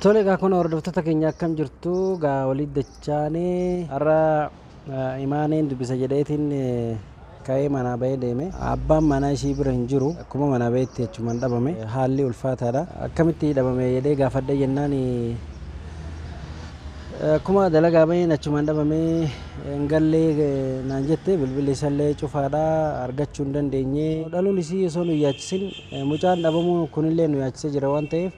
Tole egaa kun hordoftoota keenya akkam jirtu gaa waliin dachaane har'a imaaneen dubbisa jedheetiin ka'ee manaa ba'ee deeme abbaan manaa ishii bira hin jiru akkuma manaa ba'etti achumaan dhabame haalli ulfaataadha akkamitti dhabame jedhee gaafadhe jennaan akkuma dalagaa ba'een achumaan dhabame hin gallee naan jette bilbilli isallee cufaadha argachuu hin dandeenye dhaluun isii osoo nu yaachisin mucaan dhabamuu kunillee nu yaachise jira waan ta'eef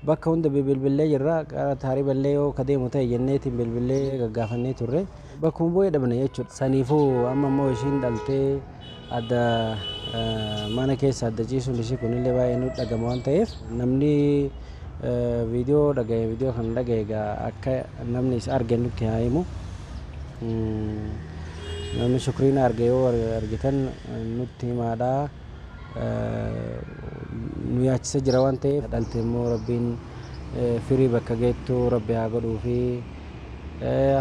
Bakka hunda bibilbillee jirra. Gara Taariballee yoo ka deemu ta'e jenneetiin bilbillee gaggaafannee turre. Bakkuma bu'ee dhabne jechuudha. Saniifuu amma immoo ishiin dhaltee adda mana keessa adda ciisuun ishii kunillee baay'ee nutti dhagama waan ta'eef namni viidiyoo dhagaye viidiyoo kana dhagaye egaa akka namni isa arge nutti haa himu. Namni shukriina arge yoo argitan nutti himaadha. nu yaachisa jira waan ta'eef dhalte immoo rabbiin firii bakka geettu rabbi haa godhuufi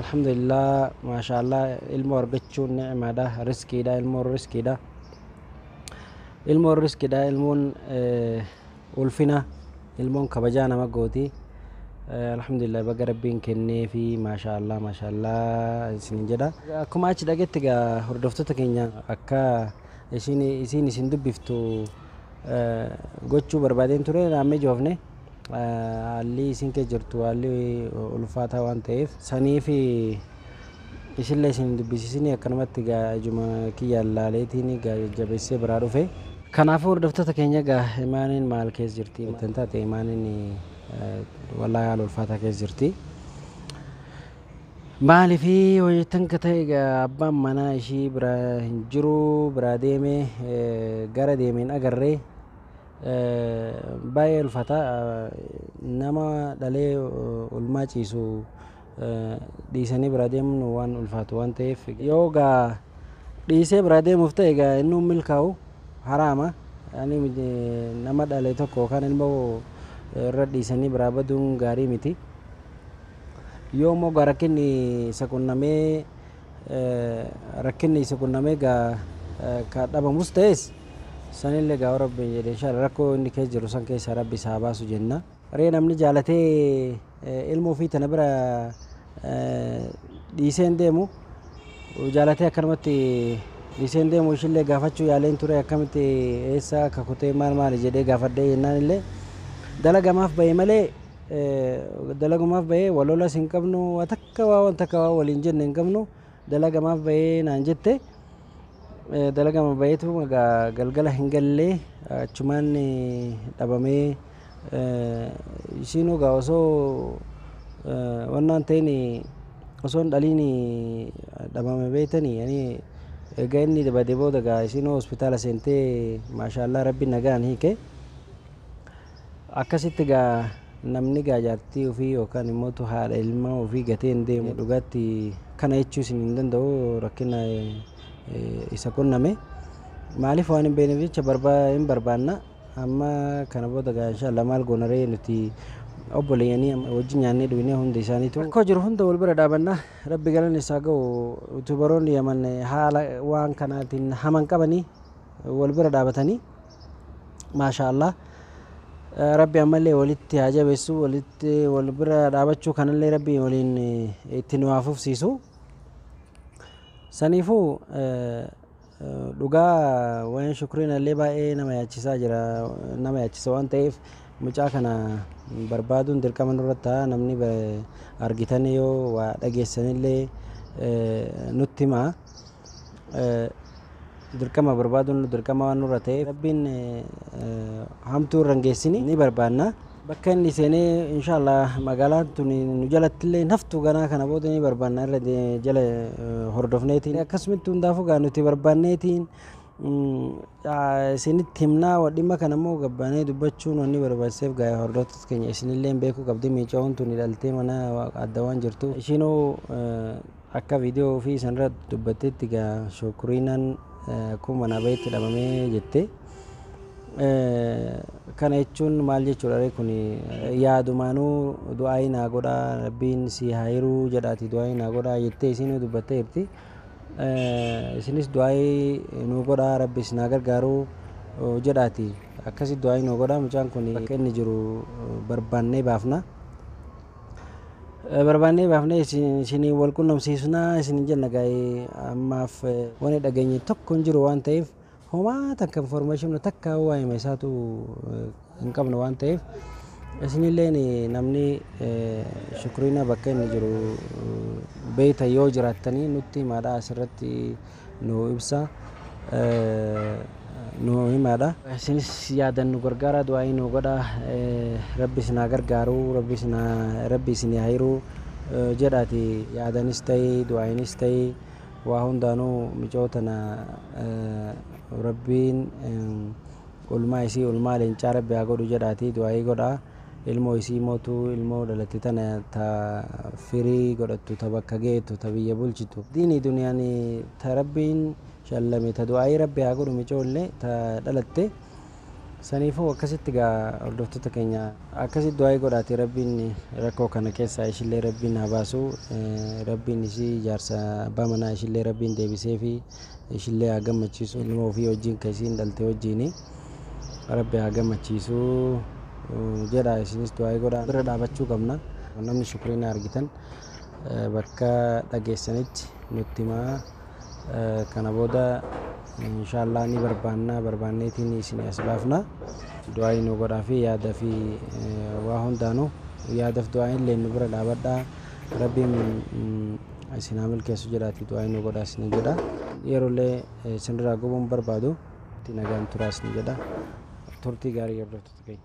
alhamdulillah maashaallah ilmoo argachuun ni'imaadha riskiidha ilmoon riskiidha ilmoon riskiidha ilmoon ulfina ilmoon kabajaa nama gooti alhamdulillah baga rabbiin kenneefi maashaallah maashaallah isinin jedha akkuma achi dhagetti gaa hordoftoota keenya akka Ishiin isiin isin dubbiftu gochuu barbaadeen ture naan mijoofne haalli isiin kee jirtu haalli ulfaataa waan ta'eef saniif ishillee isin hin dubbisiisinii akkanumatti egaa ijuma kiyyaan laaleetiin egaa jajjabeessee biraa dhufe. Kanaafuu hordoftoota keenya egaa imaaniin maal keessa jirti jettan taate imaaniin wallaahi haala ulfaataa keessa jirti. Maaliif yoo jettan ka ta'e egaa abbaan manaa ishii bira hin jiru biraa deeme gara deeme hin agarre baay'ee ulfata nama dhalee ulmaa ciisu dhiisanii biraa deemuun waan ulfaatu waan ta'eef yoo gaa dhiisee biraa deemuuf ta'e egaa inni hin milkaa'u haraama ani nama dhale tokko yookaan ilmoo irra dhiisanii biraa baduun gaarii miti. Yoo immoo egaa rakkinni isa qunnamee rakkinni isa qunnamee egaa ka dhabamus ta'es sanillee egaa yoo rabbiin jedhe inshaalla rakkoo inni keessa jiru san keessaa rabbi isa haa baasu jenna. Ree namni jaalatee ilma ofii tana bira dhiisee hin deemu jaalatee akkanumatti dhiisee hin deemu ishillee gaafachuu yaaleen ture akkamitti eessa akka kutee maal maali jedhee gaafadhee jennaan illee dalagamaaf ba'e malee dalagumaf bahee wal lolas hin qabnu waa takka waa wan takka waa waliin jenne hin qabnu dalagamaaf bahee naan jette dalagama baheetu egaa galgala hin gallee achumaan dhabamee ishiin egaa osoo wannaan ta'in osoo hin dhaliin dhabame beektanii ani egaa inni bade booda egaa ishiin hospitaala seentee maashaallaa rabbi nagaan hiike Akkasitti gaa namni gaa jaartii ofii yookaan immoo haadha ilmaa ofii gatee hin deemu dhugaatti kana jechuu isin hin danda'u rakkina isa qunname maaliif waan hin beekneef jecha barbaa hin barbaanna amma kana booda gaa inshaallaa maal goonaree nuti obboleeyyanii wajjin nyaannee dhugnee hundi isaaniitu rakkoo jiru hunda wal bira dhaabanna rabbi galan isaa ga'u yuutuubaroonni yaman haala waan kanaatiin haman qabanii wal bira dhaabatanii maashaa allah rabbi ammallee walitti haa jabeessu walitti wal bira dhaabachuu kanallee rabbi waliin itti nu haa fufsiisu saniifuu dhugaa waan shukriin illee baay'ee nama yaachisaa jira nama yaachisa waan ta'eef mucaa kana barbaaduun dirqama nurra ta'a namni argitan yoo waa dhageessanillee nutti himaa dirqama barbaaduun dirqama waan nurra ta'eef rabbiin hamtuu irra hin geessini ni barbaanna. Bakka inni seenee inshaallah magaalaan tun nu jalatti illee hin haftu ganaa kana booda ni barbaanna irra de- jala eh, hordofneetiin akkasumitti hundaafuu gaa nuti barbaanneetiin mm, ah, isinitti himnaa wa- dhimma kana immoo gabbaanee dubbachuun wanni barbaachiseef gaa hordoftoota keenya isinillee beekuu qabdi miicaa'uun tun dhaltee mana adda waan jirtu ishiinuu eh, Akka video ofii sanra dubbattetti gaa shukurinan kun mana bayetti dhabame jette kana jechuun maal jechuudha ree kun yaadumaanuu du'aayii naa godhaa rabbiin sii haa hiruu jedhaati du'aayii naa godhaa jettee isiinuu dubbattee jirti isinis du'aayii nuu godhaa rabbi isin haa gargaaruu jedhaati akkasi du'aayii nuu godhaa mucaan kun bakka inni jiru barbaannee baafna barbaannee baafnee isin- isiniin wal qunnamsiisnaa isiniin jenna gaa'ee ammaaf eh, wani dhageenye tokko hin jiru waan ta'eef homaa takka information takka waa hime isaatu eh, hin qabnu waan ta'eef isinilleen eh, namni eh, shukriina bakka inni jiru eh, beeyta yoo jiraattanii nutti himaadha asirratti nuu ibsa nuu himaadha. Isinis yaadan nu gargaaraa du'aa'ii nuu godhaa rabbi isin haa gargaaru rabbi isinii haa hiruu jedhaati yaadanis ta'i du'aa'iinis ta'i waa hundaanuu micoo tana rabbiin ulmaa isii ulmaa leencaa rabbi haa godhu jedhaati du'aa'ii godhaa. ilmo isii motu ilmo dhalate tana ta firi godhattu ta bakka geetu ta biyya bulchitu dini duniyani ta rabbiin shallame ta du'aii rabbi haa godhu micoolle ta dhalatte sanifu akkasitti gaa hordoftota kenya akkasitti du'aii godhaati rabbiin rakko kana kessa ishille rabbiin haa baasu rabbiin isii jaarsa abba manaa ishille rabbiin deebiseefi. ishillee haa gammachiisu ilmoo ofii wajjiin ka isiin dhalte wajjiini rabbi haa gammachiisu jedha isinis du'aa'ii godha bira dhaabachuu qabna namni shukriina argitan bakka dhageessanitti nutti himaa kana booda inshaallah ni barbaannaa barbaanneetiin isin as baafna du'aa'ii nu godhaa fi yaada fi waa hundaanu yaadaf du'aa'iin illee nu bira dhaabadhaa rabbiin Isin haa milkeessu jedhaatii du'aa inni godhaa isin jedha. Yerollee isin irraa gubuun barbaadu itti nagaan turaa isin jedha. Turtii gaarii hordoftoota keenya.